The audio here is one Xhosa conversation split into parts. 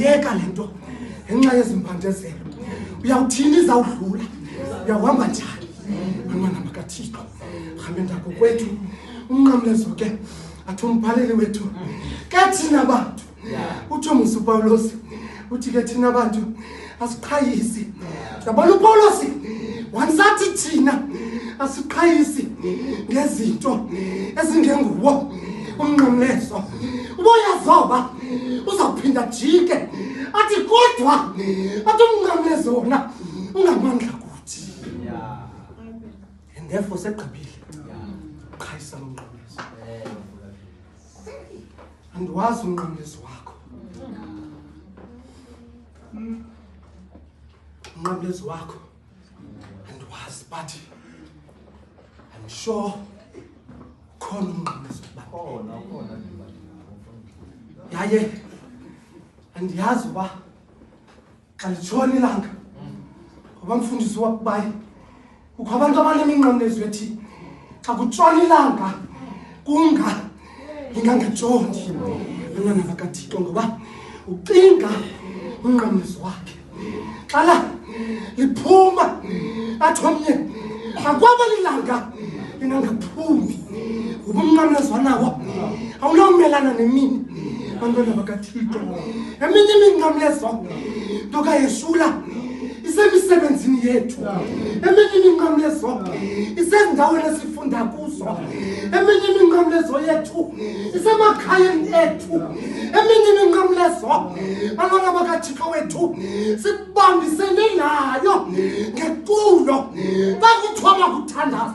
yeka le nto ngenxa yezimpandezelo uyawuthini izawudlula uyawuhamba njani bantwana bakathixo hambe ndako kwethu unqamlezo ke athi umbhaleli wethu ke thina bantu utsho musupawulosi uthi ke thina bantu asiqhayisi yabona upawulosi wansathi thina asiqhayisi ngezinto ezingenguwo umnqamleso uboyazoba uzawuphinda jike athi kodwa athi umnqamleso wona ungamandla kuthi and therefore segqibile qhayisa lomnqamleso andiwazi umnqamlezi wakho umnqamlezi wakho andiwazi but i'm sure khona umnqamlezi yaye andiyazi uba kalitshoni ilanga ngoba mfundisi wakubayi kukho abantu abaneminqamlezo ethi xa kutshona ilanga kunga lingangajoni abantwana bakathixo ngoba ucinga unqamlezo wakhe xala liphuma athi omnye akwaba lilanga lingangaphumi ubumnqamla zwanabo awunawumelana nemini bantwana bakathixo eminye iminqamlezo ndokayesula isemisebenzini yethu eminye iminqamlezo isezindaweni esifunda kuzo eminye iminqamlezo yethu isemakhayeni ethu eminye iminqamlezo bantwana bakathixo wethu sibambisene nayo ngeculo xa kuthiwa makuthandaza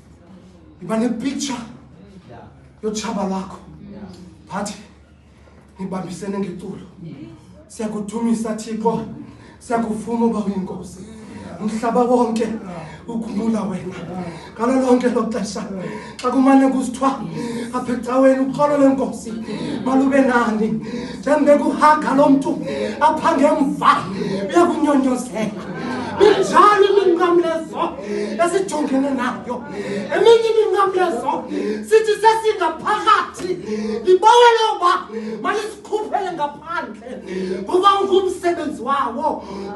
iba nepicture yotshaba lwakho but nibambisene ngeculo siyakudumisa thixo siyakuvuma uba uyinkosi umhlaba wonke ukhumula wena ngalo lonke lo xesha xa kumane kusithiwa apha ecaweni uxolo lwenkosi malube nani njengobekuhaga lo mntu apha ngemva uyakunyonyozela injalo iminqamlezo esijongene nayo eminye iminqamlezo sithi sesingaphakathi libawele uba malisikhuphele ngaphandle kuba ungumsebenzi wawo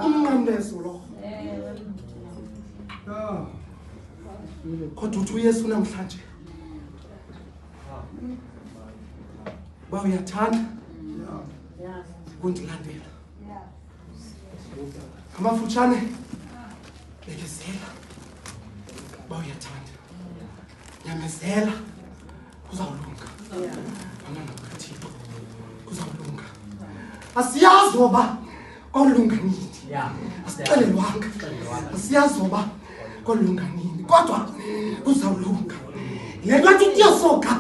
umnqamlezo lo kodwa uthi uyesu namhlanje uba uyathanda kundilandela ngamafutshane bekezela uba uyathanda nyamezela kuzawulunga bantwana bakathixo kuzawulunga asiyazi oba kwawulunga nini asixelelwanga asiyazi oba kolunga nini kodwa kuzawulunga le nto athi ndiyosoka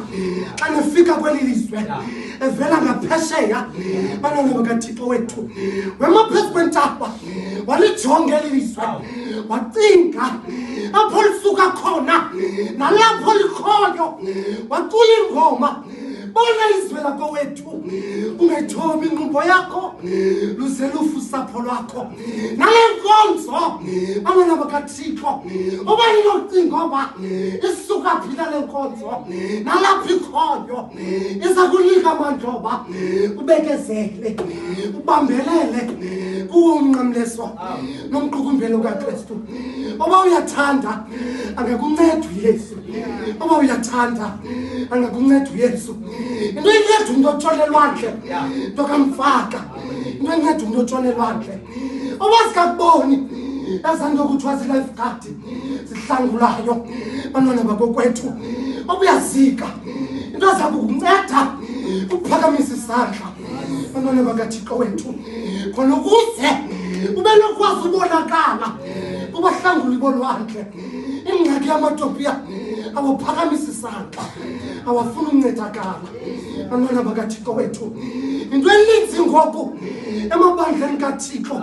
xa nifika kweli lizwe evela ngaphesheya banona bakathixo wethu wema phezu kwentaba walijonge eli lizwe wacinga apho lisuka khona nalapho likhoyo wacula ingoma bona izwe lakowethu ungethobi ingqumbo yakho luze lufu usapho lwakho nale nkonzo abana bakathixo uba linocinga oba isuka phi nale nkonzo nalapha ikhoyo iza kunika amandla oba ubekezele ubambelele kuwomnqamleswa nomqukumbelo kakristu oba uyathanda angakunceda uyesu oba uyathanda angakunceda uyesu into inceda umntu otholelwandle ntokamfaka ngenceda umntu otshona elwandle obazikakuboni ezanto kuthiwa zilife guard zihlangulayo bantwana bakokwethu obuyazika into zabo kunceda ukuphakamisa isandla bantwana bakathixo wethu khona ukuze ube nokwazi ubonakala ubahlanguli bolwandle ingxaki yamatopiya awaphakamisa isandla awafuna uncedakala amana bakathixo wethu into eninzi ngoku emabandleni kathixo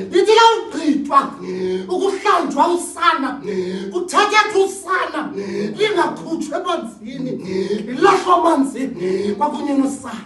ndithi kawugqithwa ukuhlanjwa usana kuthethethwa usana lingakhutshwa emanzini lilahlwa amanzini kwakunye nosana